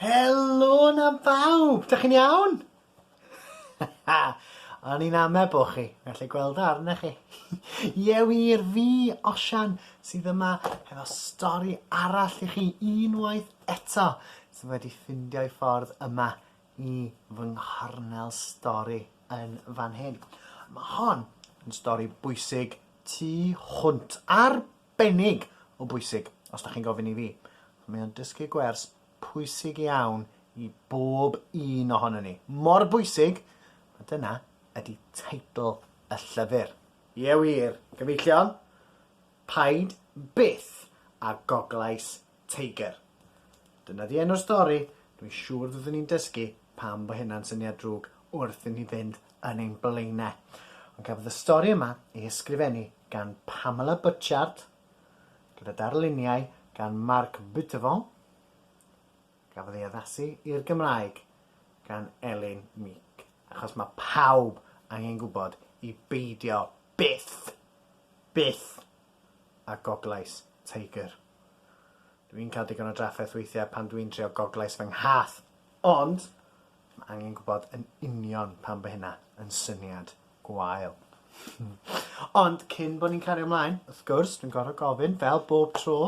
Helo 'na bawb! Dych chi'n iawn? O'n i'n ame bo' chi, gallu gweld o arnoch chi. Ie wir, fi, Osian, sydd yma hefo stori arall i chi unwaith eto, sydd wedi ffindio 'i ffordd yma i fy nghornel stori yn fan hyn. Ma' hon yn stori bwysig tu hwnt. Arbennig o bwysig, os da chi'n gofyn i fi. Mae o'n dysgu gwers pwysig iawn i bob un ohono ni. Mor bwysig, a dyna ydy teitl y llyfr. Ie wir, gyfeillion, paid byth â goglais Tiger. Dyna di enw'r stori, dwi'n siŵr fyddwn ni'n dysgu pam bo hynna'n syniad drwg wrth i ni fynd yn ein blaenau. Ond cafodd y stori yma ei ysgrifennu gan Pamela Butchard, gyda darluniau gan Marc Buttevant, gafodd ei addasu i'r Gymraeg gan Elin Meek, achos mae pawb angen gwybod i beidio byth, byth a Goglais Tiger. Dw i'n cael digon o drafferth weithiau pan dw i'n trio Goglais fy nghath, ond mae angen gwybod yn union pam bod hynna yn syniad gwael. ond cyn bod ni'n cario ymlaen, wrth gwrs, dwi'n gorfod gofyn, fel bob tro,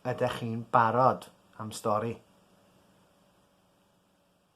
ydych chi'n barod am stori?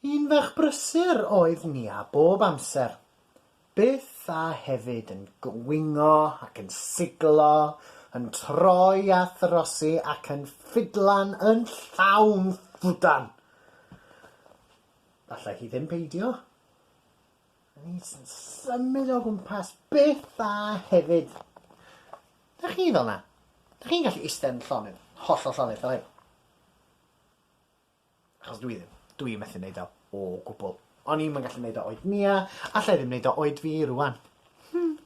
Un ferch brysur oedd Nia bob amser, byth a hefyd yn gwingo ac yn siglo, yn troi a throsi ac yn ffidlan yn llawn ffwdan. Allai hi ddim peidio. Yn is yn symud o gwmpas, byth a hefyd. Dych chi fel 'na? Dych chi'n gallu iste yn llonydd, hollol llonydd fel hyn? Achos dwi ddim. Dwi yn methu neud o. O gwbwl. O'n i'm yn gallu neud o oed Nia, alla i ddim neud o oed fi rŵan. Hmm.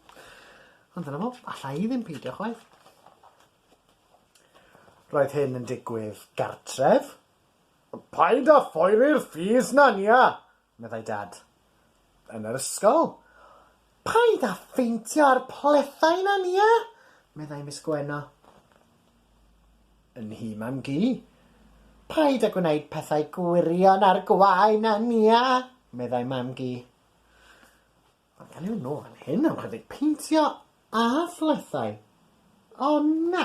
Ond dyna fo. Alla i ddim peidio chwaith. Roedd hyn yn digwydd gartref. Paid â phoeri'r fees 'na, Nia! meddai Dad. Yn yr ysgol! Paid â pheintio ar pletha yna, Nia! meddai Miss Gwenno. Yn nhîm am gi. Paid â gwneud pethau gwirion ar gwae na Nia! meddai Mam-gu. Ond pan yw nhw fan hyn am chydig peintio a phlethau? O na!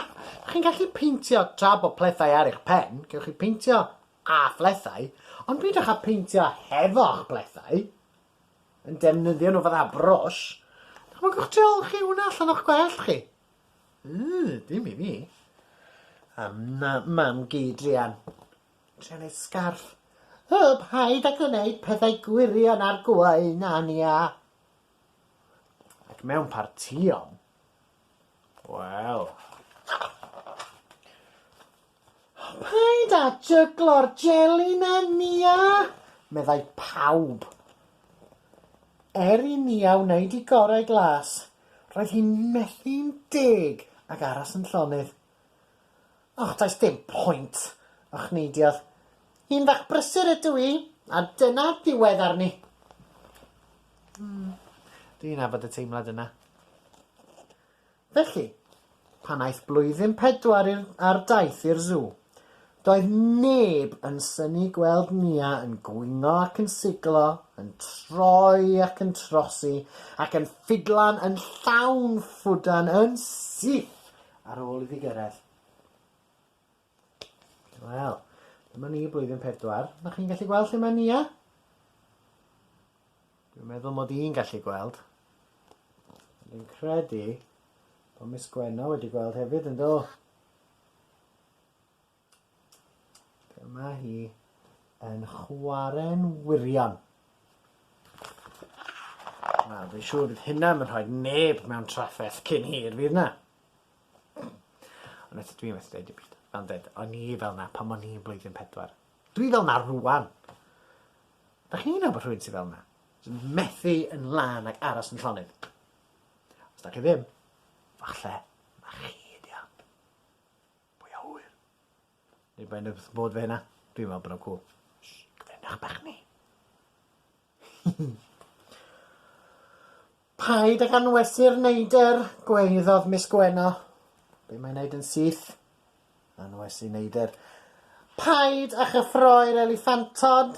Chi'n gallu peintio tra bod plethae ar eich pen, gewch chi peintio a phlethau, ond peidiwch â peintio hefo'ch plethae, yn defnyddio nhw fatha brwsh. Dychmygwch tu ol chi hwnna allan o'ch gwellt chi. Yy, dim i fi. A na mam geidrian. Trio neud sgarff. Hw, paid â gwneud pethau gwirion ar gwain, Ania! Ac mewn partïon, wel... Paid â jyglo'r jeli 'na, Nia! meddai pawb. Er i Nia wneud i gorau glas, roedd hi'n methu'n deg ac aros yn llonydd. Och, does dim pwynt, ochneiddiodd. Un fach brysur ydw i, a dyna ddiwedd arni. Hmm, dwi'n nabod y teimlad yna. Felly, pan aeth blwyddyn pedwar i'r, ar daith i'r sw, doedd neb yn syni gweld Nia yn gwingo ac yn siglo, yn troi ac yn trosi, ac yn ffidlan yn llawn ffwdan yn syth Ar ôl iddi gyrraedd. Wel, dyma ni blwyddyn pedwar. Na chi'n gallu gweld lle mae Nia? Dwi'n meddwl mod i'n gallu gweld. Ond dwi'n credu bod Miss Gwenno wedi gweld hefyd yn do. Be mae hi yn chwarae'n wirion. Wel, fi'n siŵr bydd hynna yn rhoi neb mewn trafferth cyn hir, fydd na? Ond eto dwi methu dweud dim byd. Fel dweud, o'n i fel na pan o'n i'n blwyddyn pedwar. Dwi fel na rwan. Da chi'n nabod rhywun sydd fel na? Sy'n methu yn lan ac aros yn llonydd. Os da chi ddim, falle na chi ydi o. Pwy a ŵyr? Neu mae'n yn wrth modd fe hynna. Dwi'n meddwl bod o'n cwl. Cyfrinach bach ni. Paid ag anwesu'r neidr, gwaeddodd Miss Gwenno. Be mae'n neud yn syth? Anwesu neidr. Paid â chyffroi'r eliffantod.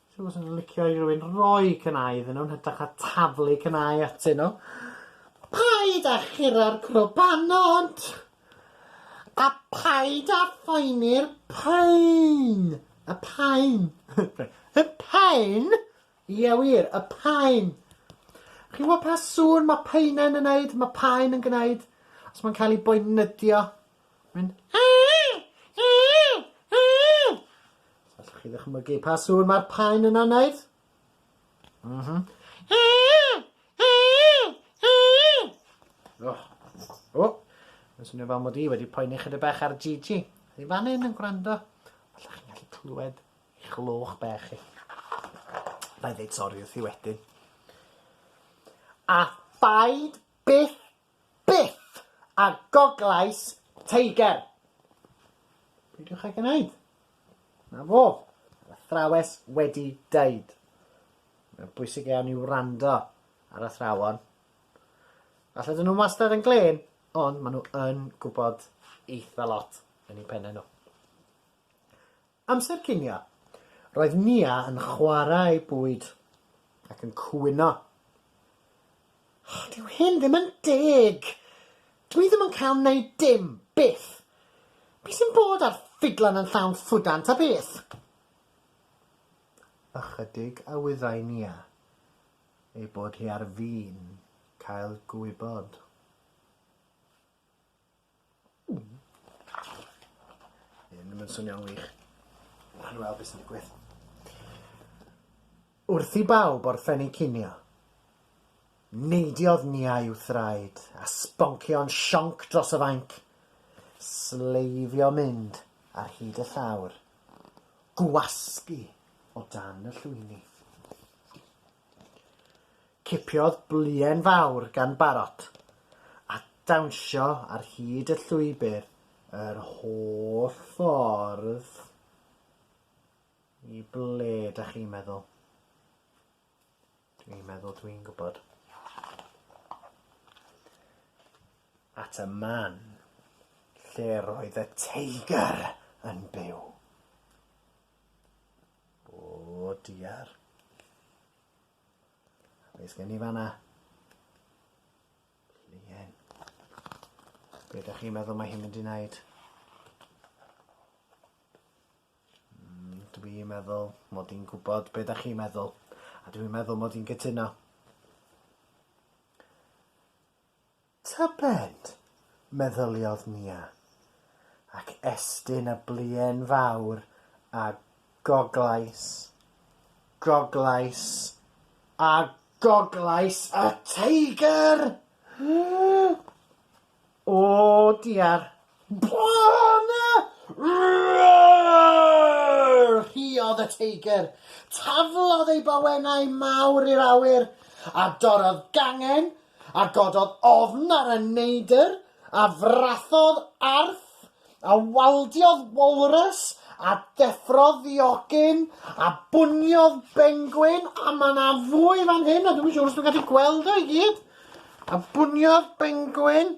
Dwi wastad yn licio i rywun roi cnau iddyn nhw yn hytrach na taflu cnau atyn nhw. Paid â chura'r crwbanod! A paid â phoeni'r pain! Y pain! Y pain! Ie wir, y pain! Chi'n gwybod pa sŵn mae paenau'n yn neud? Mae paen yn gwneud os mae'n cael ei boenydio. Mae'n Allwch chi ddychmygu pa sŵn mae'r paun yna'n wneud? Mhm. O! O! Mae'n swnio fel mod i wedi poeni chydig bach ar Gigi. Yn fan hyn yn gwrando. Allwch chi'n gallu clywed i chlwch bech chi. Bai ddeud sori wrth i wedyn. A phaid byth Byth! A goglais Teiger! Peidiwch ag wneud. Na fo. Mae'r athrawes wedi deud. Mae'n bwysig iawn i wrando ar athrawon. Falle dyn nhw wastad yn glen, ond maen nhw yn gwybod eitha lot yn eu pennau nhw. Amser cinio. Roedd Nia yn chwarae bwyd ac yn cwyno. Dyw hyn ddim yn deg! Dw i ddim yn cael neud dim, byth! Be sy'n bod a'r ffidlan yn llawn ffwdan ta beth? Ychydig a wyddai Nia ei bod hi ar fin cael gwybod. Hyn ddim yn swnio'n wych. Nawn ni weld be' sy'n digwydd. Wrth i bawb orffennu cinio, neidiodd Nia i'w thraed a sboncio'n sionc dros y fainc, sleifio mynd ar hyd y llawr, gwasgu o dan y llwyni. Cipiodd bluen fawr gan Barot, a dawnsio ar hyd y llwybr yr holl ffordd i ble dach chi'n meddwl? Dwi'n meddwl dwi'n gwybod. At y man lle roedd y teigr yn byw. O diar. Be sgen ni fanna? Pluen. Be da chi'n meddwl mae hi'n mynd i wneud? Mm, dwi'n meddwl mod i'n gwybod be da chi'n meddwl. A dwi'n meddwl mod i'n gytuno. Tybed! meddyliodd Nia, ac estyn y bluen fawr a goglais, goglais, a goglais y teigr! O diar! Bana! Roar! rhuodd y teigr. Taflodd ei bawenau mawr i'r awyr, a dorrodd gangen, a gododd ofn ar y neidr, a frathodd arth, a waldiodd walrus, a deffrodd ddiogyn, a bwniodd bengwin, a mae yna fwy fan hyn, ond dwi'm yn siŵr os dwi'n gallu gweld o i gyd, a bwniodd bengwin,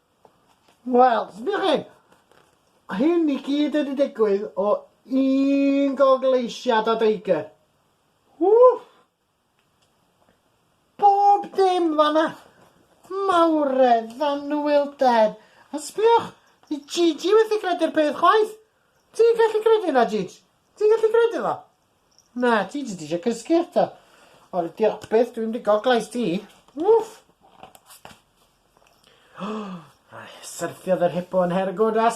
Wel, sbïwch chi, hyn i gyd wedi digwydd o un gogleisiad o Deiger. Wff! Bob dim fanna! Mawredd, anhwylder, a sbïwch, di Gigi wedi credu'r peth chwaith! Ti'n gallu credu hynna, Gigi? Ti'n gallu credu fo? Na, ti jyst eisiau cysgu eto. O, diolch byth, dwi'n mynd i goglais ti. Wff! Syrthiodd yr hippo yn her good a...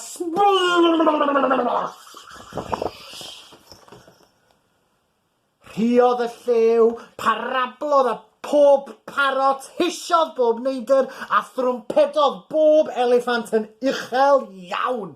Rhiodd y llew, parablodd a pob parot, hisiodd bob neidr a thrwmpedodd bob eliffant yn uchel iawn.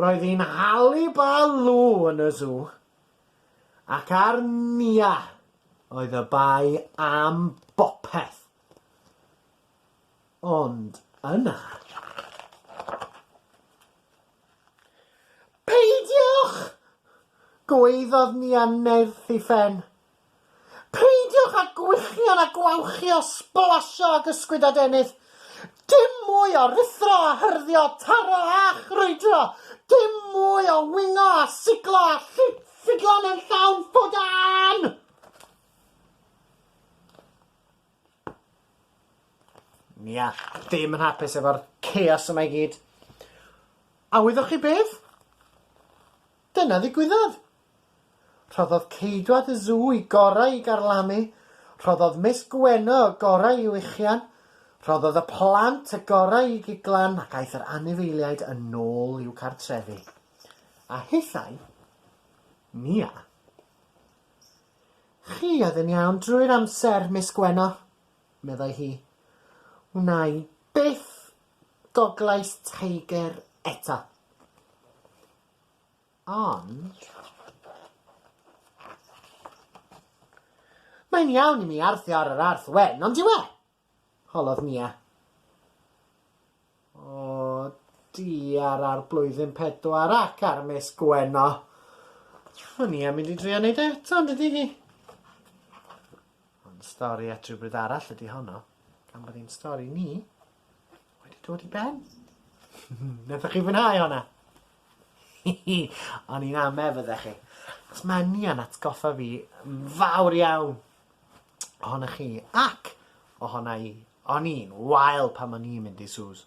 Roedd hi'n hali Baloo yn y sw, ac ar Nia oedd y bai am bopeth. Ond yna... Peidiwch! gwaeddodd Nia nerth ei phen. Peidiwch â gwichian a gwawchio, sblasio ac ysgwyd a deunydd. Dim mwy o ruthro a hyrddio, taro a chrwydro. Dim mwy o wingo a siglo a llid siglo mewn llawn ffwdan! Nia, dim yn hapus efo'r chaos yma i gyd. A wyddoch chi beth? Dyna ddigwyddodd! Rhoddodd ceidwad y Sw y gorau i garlamu, rhoddodd Miss Gwenno y gorau i wichian, rhoddodd y plant y gorau i giglan ac aeth yr anifeiliaid yn ôl i'w cartrefi. A hithau, Nia. Chi oedd yn iawn drwy'r amser, Miss Gwenno, meddai hi. Wna i byth goglais Tiger eto. Ond... Mae'n iawn i mi arthio ar yr arth wen, on'd yw e? holodd Nia. O, di ar ardd blwyddyn pedwar ac ar Miss Gwenno. Mae Nia mynd i drio neud e eto, on'd ydi hi? Ond stori at rywbryd arall ydi honno, gan bod hi'n stori ni. Wedi dod i ben. Nathoch chi fwynhau honna? O'n i'n ame fyddech chi. Achos ma' ni yn atgoffa fi yn fawr iawn ohonoch chi ac ohona i. O'n i'n wael pan o'n i'n mynd i Sue's.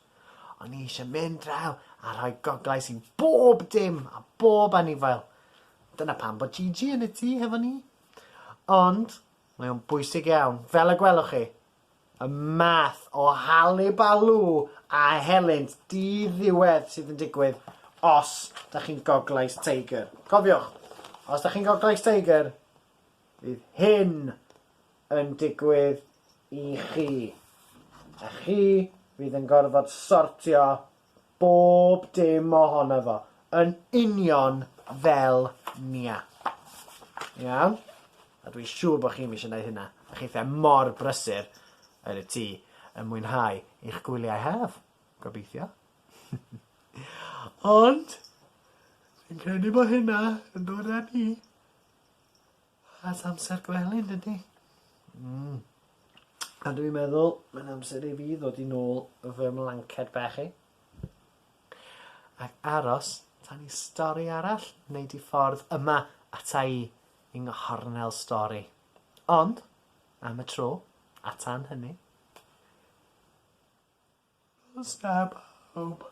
O'n i eisiau mynd draw a rhoi goglais i bob dim a bob anifail. Dyna pam bod Gigi yn y tŷ hefo ni. Ond mae o'n bwysig iawn, fel y gwelwch chi, Y math o halibalŵ a helynt di-ddiwedd sydd yn digwydd os da chi'n Goglais Teigr. Cofiwch, os da chi'n Goglais Teigr, fydd hyn yn digwydd i chi. A chi fydd yn gorfod sortio Bob dim ohono fo. Yn union fel Nia. Iawn? A dwi'n siŵr bod chi'm eisiau gwneud hynna. Dych chi fatha mor brysur yn y tŷ yn mwynhau eich gwyliau haf, gobeithio. Ond, dwi'n credu bod hynna yn dod â ni... Wel amser gwely yndydi? Hmm. A dwi meddwl mae'n amser i fi ddod i nôl fy mlanced bach i. Ac aros tan i stori arall wneud i ffordd yma ata i yng nghornel stori. Ond, am y tro, a tan hynny... Nos da bawb.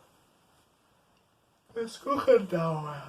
Gwisgwch yn dawel.